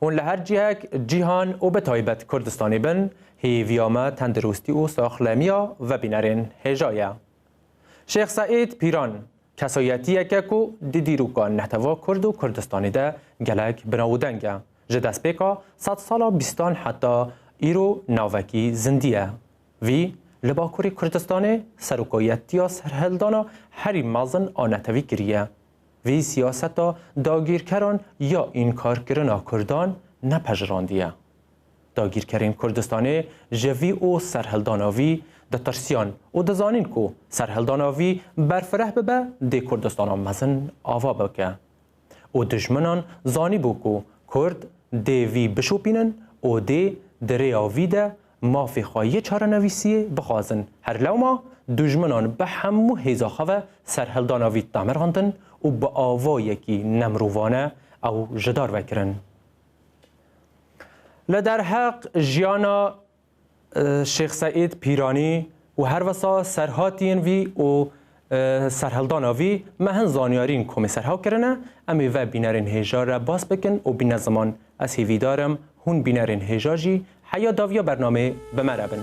Hûn li her cihek, cîhan û bi taybet Kurdistanê bin, hêviya me tendirûstî û saxlemiya ve bînerên hêja ye. Şêx Seîd Pîran, kesayetiyek e ku di dîroka netew'a Kurd û Kurdistanê de gelek bi nav û deng e. Ji destpêka sed sala bîstan heta îro navekî zindî ye. Vî li Bakurê Kurdistanê serokayetiya serhildana herî mezin a netewî kiriye. Vî siyaseta dagîrkeran ya înkarkirina kurdan nepejirandîye. Dagîrkerên Kurdistanê ji vî û serhildana vî ditirsiyan û dizanîn ku serhildana vî berfireh bibe dê Kurdistana mezin ava bike. Û dijminan zanîbû ku Kurd dê vî bişopînin û dê di rêya vî de mafê xwe yê çarenivîsiyê bixwazin. Her lewma dujminan bi hemû hêza xwe ve serhildana vî damirxandin û bi avayekî nemirovane ew ji dar ve kirin. Li derheq jiyana Şêx Seîd Pîranî û herwisa serhatiyên vî û Serhildana vî me hin zanyarîn komê serhaw kirine, em ê ve bînerên hêja re bas bikin û bîne ziman. Ez hêvîdar im hûn bînerên hêja jî heya daviya bernameyê bi me re bin.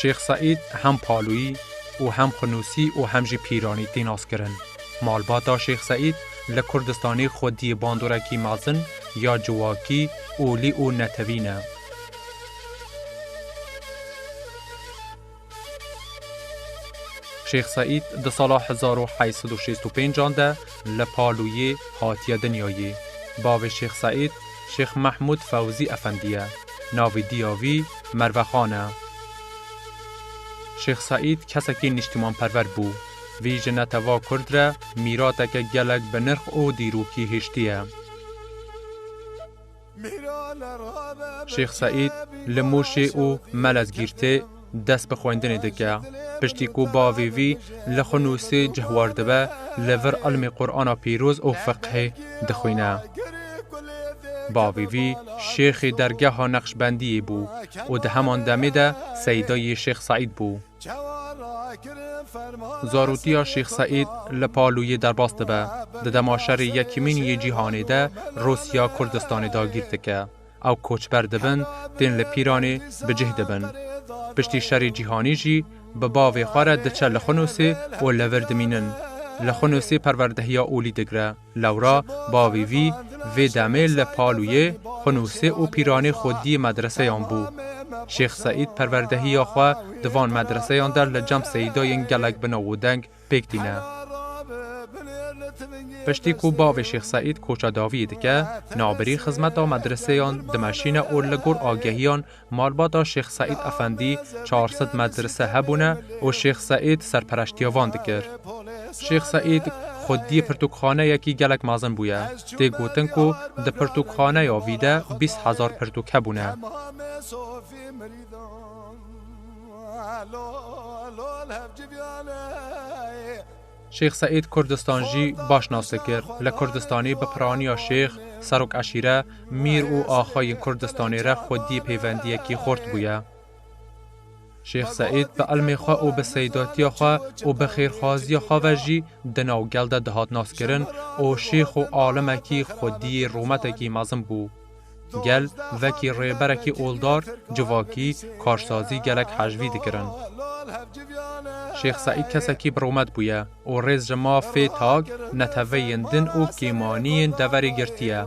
Şêx Seîd hem Paloyî û hem Xunûsî û hem jî Pîranî tê naskirin. Malbata Şêx Seîd li Kurdistanê xwediyê bandorekî mezin ya ciwakî, olî û netewî ne. Şêx Seîd di sala hezar û heşt sed û şêst û pênc an de li Palûyê hatiye dinyayê. Bavê Şêx Seîd Şêx Mehmûd Fewzî Efendî ye. Navê diya wî Mervexan e. Şêx Seîd kesekî nîştîmanperver bû. Vî ji neteva Kurd re mîrateke gelek binirx û dîrokî hiştiye. Şêx Seîd li Mûşê û Melezgîrtê dest bi xwendinê dike. Piştî ku bavê vî li xwe nûsê cih werdibe, li vir ilmê Qur'ana pîroz û fiqhê dixwîne. Bavê vî şêxê dergeha Neqşbendiyê bû û di heman demê de seyda yê Şêx Seîd bû. Zaroktiya Şêx Seîd li Palûyê derbas dibe. Di dema Şerê Yekîmîn yê Cîhanê de Rûsya Kurdistanê dagîr dike. Ew koçber dibin, tên li Pîranê bi cih dibin. Piştî Şerê Cîhanî jî bi bavê xwe re diçe li Xunûsê û li vir dimînin. Li Xunûsê perwerdehiya olî digre. Lewra bavî vî, vê demê li Palûyê xunûsê û pîranê xwediyê medreseyan bû. Şêx Seîd perwerdehiya xwe di van medreseyan de li cem seyîdayên gelek bi nav û deng pêk tîne. Piştî ku bavê Şêx Seîd koça daviyê dike, navbirî xizmeta medreseyan dimeşîne û li gor agehiyan Malbata Şêx Seîd Efendî çar sed medrese hebûne û Şêx Seîd serpereştiya van dikir. Şêx Seîd xwediyê pirtûkxaneyekî gelek mezin bûye. Tê gotin ku di pirtûkxaneya vî de bîst hezar pirtûk hebûne. Şêx Seîd Kurdistan jî baş nas dikir. Li Kurdistanê bi piraniya şêx, serok eşîre, mîr û axa yên Kurdistanê re xwedî pêvendiyekî xurt bûye. Şêx Seîd bi ilmê xwe û bi seydatiya xwe û bi xêrxwaziya xwe ve jî di nav gel de dihat naskirin û şêx û alimekî xwediyê rûmetekî mezin bû. Gel vekî rêberekî oldar, civakî, karsazî gelek hejvî dikirin. Şêx Seîd kesekî biromet bûye û rêz ji mafê tak, neteweyên din û kêmaniyên deverê girtiye.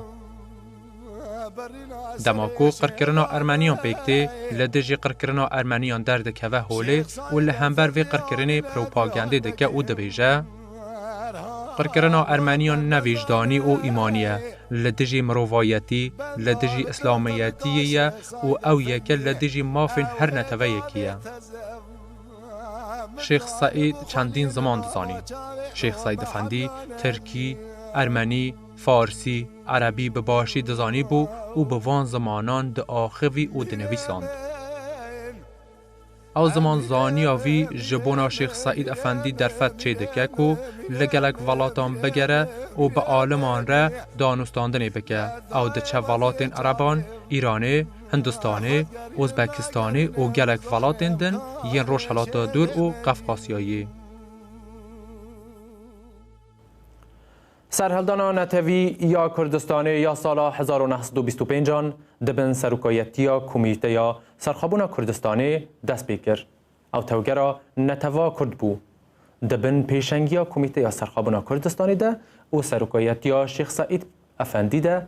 Dema ku qirkirina ermeniyan pêk tê, li dijî qirkirina ermeniyan derdikeve holê û li hember vê qirkirinê propagandê dike û dibêje, Qirkirina Ermeniyan ne vîjdanî û îmanî ye, li dijî mirovayetî, li dijî îslamiyetîyê ye û ew yeke li dijî mafên her neteweyekî ye. Şêx Seîd çendîn ziman dizanî. Şêx Seîd Efendî tirkî, ermenî, farsî, erebî bi başî dizanîbû û bi van zimanan diaxivî û dinivîsand. Ew ziman zaniya vî ji bona Şêx Seîd Efendî derfet çê dike ku li gelek velatan bigere û bi aliman re danûstandinê bike. Ew diçe welatên ereban, Îranê, Hindistanê, Ozbekistanê û gelek welatên din yên Rojhilata Dûr û Qefqasyayê. Serhildana netewî ya Kurdistanê ya sala hezar û neh sed û bîst û pênc an di bin serokayetiya Komîteya Serxwebûna Kurdistanê dest pê kir. Ew tevgera neteva Kurd bû. Di bin pêşengiya Komîteya Serxwebûna Kurdistanê de û serokayetiya Şêx Seîd Efendî de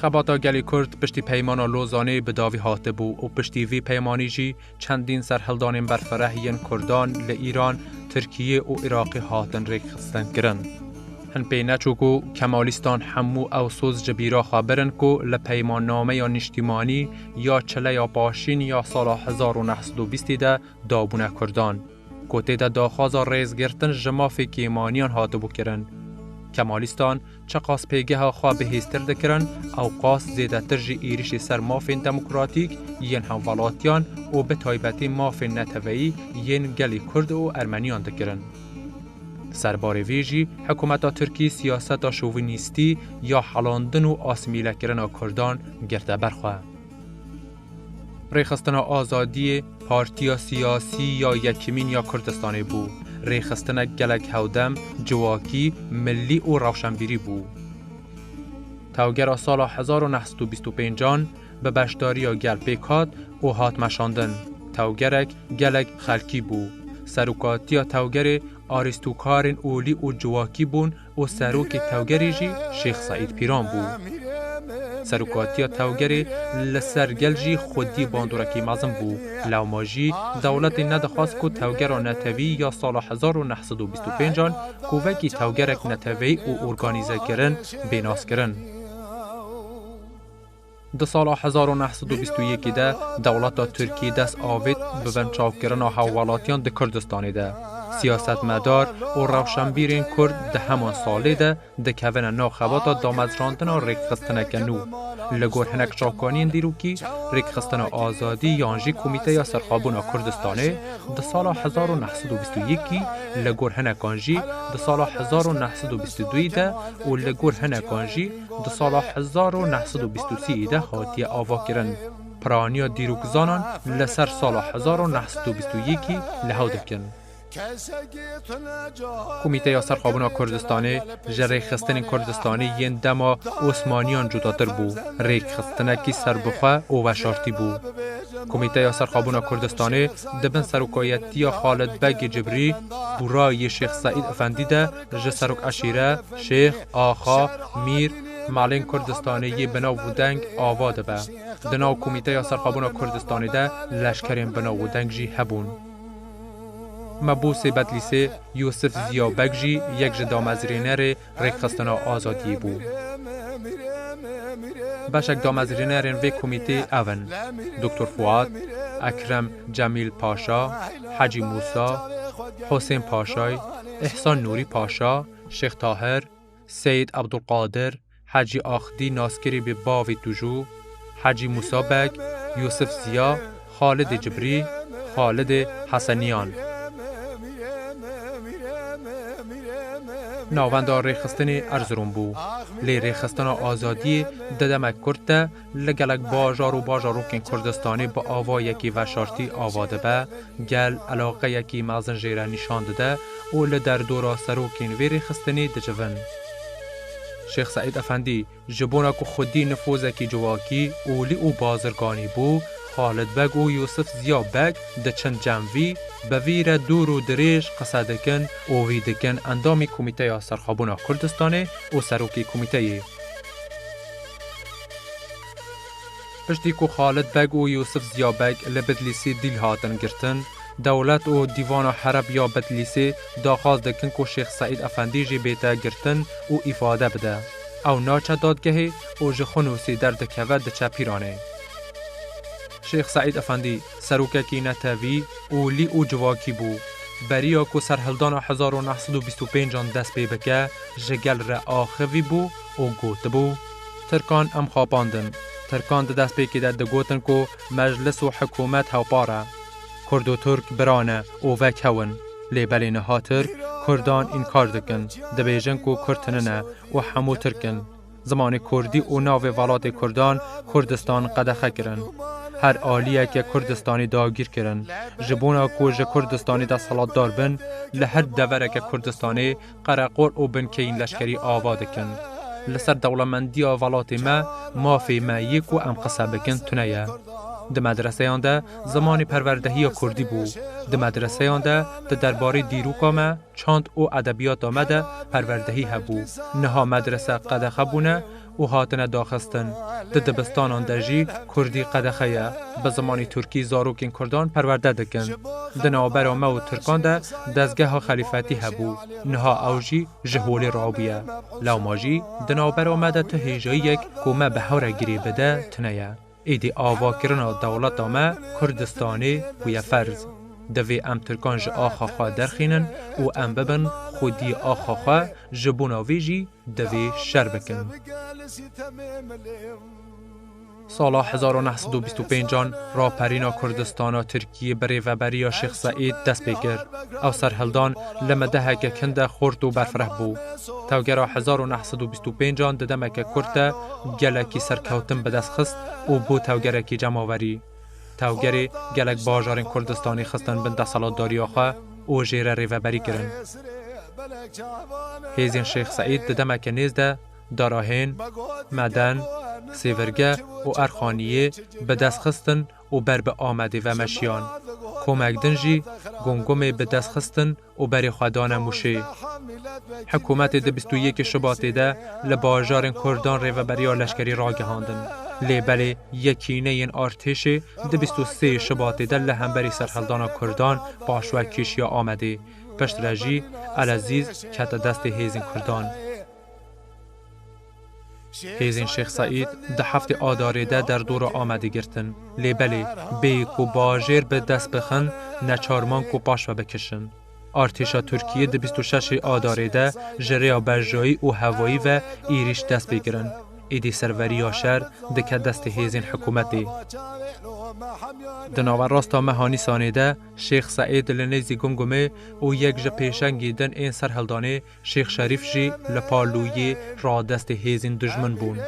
Xebata gelê Kurd piştî Peymana Lozanê bi davî hatibû û piştî vî peymanî jî çendîn serhildanên berfireh yên Kurdan li Îran, Tirkiyê û Iraqê hatin rêkxistinkirin. Hin pê neçû ku Kemalîstan hemû ew soz ji bîra xwe birin ku li Peymannameya Nîştîmanî ya Çileya Paşîn ya sala hezar û neh sed û bîstê de dabûne Kurdan. ku tê de daxwaza rêzgirtin ji mafê kêmaniyan hatibû kirin. Kemalîstan çiqas pêgeha xwe bihêztir dikirin, ew qas zêdetir jî êrîşê ser mafên demokratîk yên hemvelatiyan û bi taybetî mafên neteweyî yên gelê Kurd û Ermeniyan dikirin. Di ser barê vê jî hikûmeta Tirkî siyaseta şovînîstî ya helandin û asimîlekirina Kurdan girte ber xwe. Rêxistina Azadiyê partiya siyasî ya Yekîmîn ya Kurdistanê bû. Rêxistinek gelek hewdem, ciwakî, milî û rewşenbîrî bû. Tewgera sala hezar û neh sed û bîst û pênc an bi beşdariya gel pêk hat û hat meşandin. Tewgerek gelek xelkî bû. Serokatiya tewgerê arîstokarên olî û ciwakî bûn, û serokê tevgerê jî Şêx Seîd Pîran bû. Serokatiya tevgerê li ser gel jî xwedî bandorekî mezin bû, lewma jî dewletê nedixwest ku tevgera netewî ya sala hezar û neh sed û bîst û pênc an ku wekî tevgerek neteweyî û organîzekirin bê naskirin, Di sala hezar û neh sed û bîst û yekê de dewleta Tirkî dest avêt bi vençavkirina hawalatiyan di Kurdistanê de. Siyasetmedar û rewşenbîrên Kurd di heman salê de dikevine nav xebata damezrandina rêkxistineke nû. Li gor hinek çavkaniyên dîrokî, Rêkxistina Azadî yan jî Komîteya Serxwebûna Kurdistanê di sala hezar û neh sed û bîst û yekî, li gor hinekan jî di sala hezar û neh sed û bîst û duyî de û li gor hinekan jî di sala hezar û neh sed û bîst û sî de hatiye avakirin. Piraniya dîrokzanan li ser sala hezar û neh sed û bîst û yekî li hev dikin. Komîteya Serxwebûna Kurdistanê ji rêkxistinên Kurdistanê yên dema Osmaniyan cudatir bû, rêkxistinekî serbixwe û veşartî bû. Komîteya Serxwebûna Kurdistanê di bin serokayetiya Xalid Begê Cibrî, Bûra yê Şêx Seîd Efendî de ji serok eşîre, şêx, axa, mîr, malên Kurdistanê yê binav û deng ava dibe. Di nav Komîteya Serxwebûna Kurdistanê de leşkerên binav û deng jî hebûn. Mebûsê Bedlîsê Yûsif Ziya Beg jî yek ji damezrênerê Rêkxistina Azadiyê bû. Beşek damezrênerên vê komîtê ev in, Doktor Fuat, Ekrem Cemîl Paşa, Hecî Mûsa, Husên Paşay, Îhsan Nûrî Paşa, Şêx Tahir, Seyîd Ebdulqadir, Hecî Axdî naskirî bi bavê Tûjû, Hecî Mûsa Beg, Yûsif Ziya, Xalidê Cibrî, Xalidê Hesenîyan. Navenda rêxistinê Erzirom bû. Lê rêxistina azadiyê di demek kurd de, Li gelek bajar û bajarokên Kurdistanê bi avayekî veşartî ava dibe, gel eleqeyekî mezin jê re nîşan dide û li derdora serokên vê rêxistinê dicivin. Şêx Seîd Efendî, ji bona ku xwedî nifûzekî civakî, olî û bazirganî bû, Xalid Beg û Yûsif Ziya Beg diçin cem vî, bi vî re dûr û dirêj qise dikin û vî dikin endamî Komîteya Serxwebûna Kurdistanê û serokê komîteyê. Piştî ku Xalid Beg û Yûsif Ziya Beg li Bidlîsê dîl hatin girtin, dewlet û Dîvana Hereb ya Bidlîsê daxwaz dikin ku Şêx Seîd Efendî jî bête girtin û îfade bide. Ew naçe dadgehê û ji Xunûsê derdikeve diçe Pîranê. Şêx Seîd Efendî serokekî netewî û lî û civakî bû. Beriya ku serhildana hezar û neh sed û bîst û pênc an dest pê bike ji gel re axivî bû, û gotibû, Tirkan em xapandin. Tirkan di destpêkê de digotin ku meclis û hikûmet hewpar e. Kurd û Tirk bira ne û vek hew in. Lê belê niha Tirk Kurdan înkar dikin, dibêjin ku Kurd tune ne û hemû Tirk in. Zimanê Kurdî û navê velatê Kurdan Kurdistan qedexe kirin. Her aliyeke Kurdistanî dagîr kirin. Ji bona ku ji Kurdistanê desthilatdar bin, li her devereke Kurdistanê Qereqol û binkeyên leşkerî ava dikin. Li ser dewlemendiya velatê me, mafê me yê ku em qise bikin tune ye. Di medreseyan de zimanê perwerdehiya kurdî bû. Di medreseyan de di derbarê dîroka me, çand û edebiyata me de perwerdehî hebû. Niha medrese qedexe bûne, û hatine daxistin. Di dibistanan de jî kurdî qedexe ye. Bi zimanî turkî zarokên kurdan perwerde dikin. Di navbera me û tirkan de dezgeha xelîfetî hebû. Niha ew jî ji holê rabûye. Lewma jî di navbera me de tu hêjayiyek ku me bi hew re girê bide tune ye. Êdî avakirina dewleta me Kurdistanê bûye ferz. Divê em Tirkan ji axa xwe derxînin û em bibin xwediyê axa xwe, ji bona vê jî divê şer bikin. Sala hezar û neh sed û bîst û pênc an raperîna Kurdistana Tirkiyê bi rêveberiya Şêx Seîd dest pê kir. Ew serhildan li me deheke kin de xurt û berfireh bû. Tevgera hezar û neh sed û bîst û pênc an di demeke kurt de gelekî serkewtin bi dest xist û bû tevgerekî cemaverî. Tevgerê gelek bajarên Kurdistanê xistin bin deselatdariya xwe û jê re rêveberî kirin. Hêzên Şêx Seîd di demeke nêz de Darahên, Meden, Sêvirge û Erxaniyê bi dest xistin û ber bi Amedê ve meşiyan. Komek din jî Gomgomê bi dest xistin û berê xwe dane Mûşê. Hikûmetê di bîst û yekê Şubatê de li bajarên Kurdan rêveberiya leşkerî ragihandin. Lê belê yekîneyên artêşê di bîst û sê Şubatê de li hemberî serheldana Kurdan paşve kêşiya Amedê. Piştre jî Elezîz kete destê hêzên Kurdan. Hêzên Şêx Seîd di heftê Adarê de derdora Amedê girtin. Lê belê bêyî ku bajêr bi dest bixin neçar man ku paş ve bikişin. Artêşa Tirkiyê di bîst û şeş ê Adarê de ji rêya berjayî û hevayî ve êrîş dest pê kirin. Êdî serveriya şer dike destê hêzên hikûmetê. Di naverasta meha Nîsanê de Şêx Seîd li nêzî Gumgumê û yek ji pêşengî din ên serhildanê, Şêx Şerîf jî li Palûyê radestê hêzên dijmin bûn.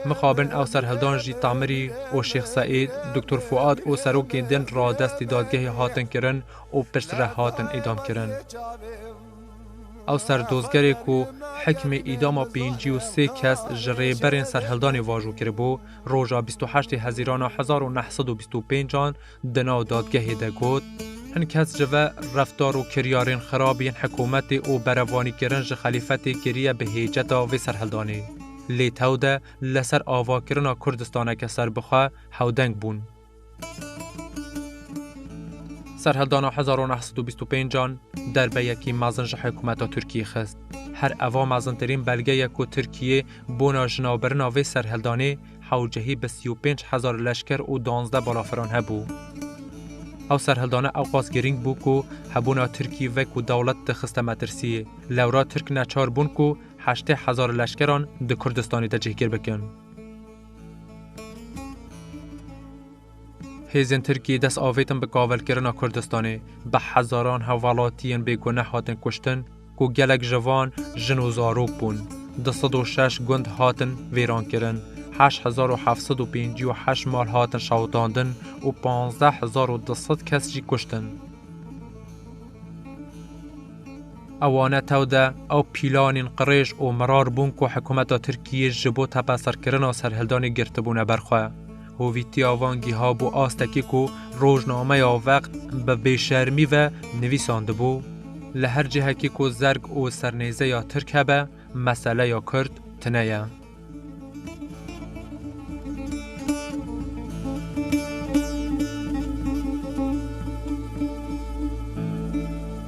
Mixabin ew serhildan jî Temirî û Şêx Seîd, Doktor Fuad û serokên din radestî dadgehê hatin kirin û pirsre hatin îdamkirin. Ew serdozgerê ku hikmê îdama pêncî û sê kes ji rêberên serhildanê vajo kiribû, roja bîst û heştê hezîrana hezar û neh sed û bîst û pênc an Di nav dadgehê de got, Hin kes ji ve reftar û kiryarên xerab yên hikûmetê û berevanîkirin ji xelîfetê kiriye bi hêceta vê serhildanê. Lê tewde li ser avakirina Kurdistaneke serbixwe hewdeng bûn. Serhildana hezar û neh sed û bîst û pênc an derbeyekî mezin ji hikûmeta Tirkiyê xist. Her eva mezintirîn belge ye ku Tirkiyê bona jinavbirina vê serhildanê, Hewl cihî bi sî û pênc hezar leşker û duanzdeh balafiran hebû. Ew serhildana ewqas girîng bû ku hebûna Tirkî ve ku dewlet dixiste metirsî. Lewra Tirk neçar bûn ku heştê hezar leşkeran di Kurdistanê de cihgir bikin. Hêzên Tirkiyê dest avêtin bi kavilkirina Kurdistanê, bi hezaran hevwelatiyên bêguneh hatin kuştin ku gelek ji van jin û zarok bûn. Du sed û şeş gund hatin vêrankirin, heşt hezar û heft sed û pêncî û heşt mal hatin şewitandin û panzdeh hezar û du sed kes jî kuştin. Ewane tew de ew pîlanên qirêj û mirar bûn ku hikûmeta Tirkiyê ji bo tepeserkirina serhildanê girtibûne ber xwe. Hovîtiya van gihabû astekê ku rojnameya Veq bi bêşermî ve nivîsandibû, Li her cihekê ku zerg û sernêzeya Tirk hebe, meseleya Kurd tune ye.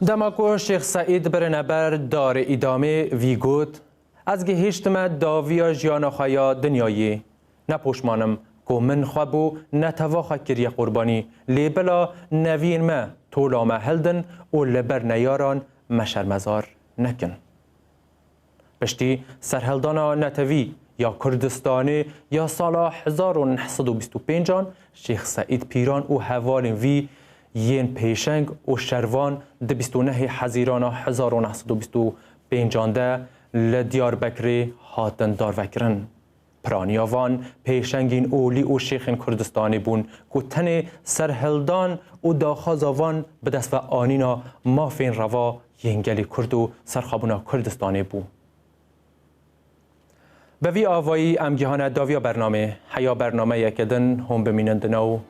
Dema ku Şêx Seîd birine ber darê îdamê vî got, Ez gihîştime daviya jiyana xwe ya dinyayê. Ne poşmanim ku min xwe bo netewa xwe kiriye qurbanî, lê bila neviyên me tola me hildin û li ber neyaran me şermezar nekin. Piştî serhildana netewî ya Kurdistanê ya sala hezar û neh sed û bîst û pênc an Şêx Seîd Pîran û hevalên vî yên pêşeng û şervan di bîst û nehê Hezîrana hezar û neh sed û bîst û pênc an de li Diyarbekirê hatin darvekirin. Piraniya van pêşengîn olî û şêxên Kurdistanê bûn ku tenê serhildan û daxwaza van bi dest ve anîna mafên reva yên gelê Kurd û serxwebûna Kurdistanê bû. Bi vî avayî em cihane daviya bernamê. Heya bernameyeke din hûn bimînin di nav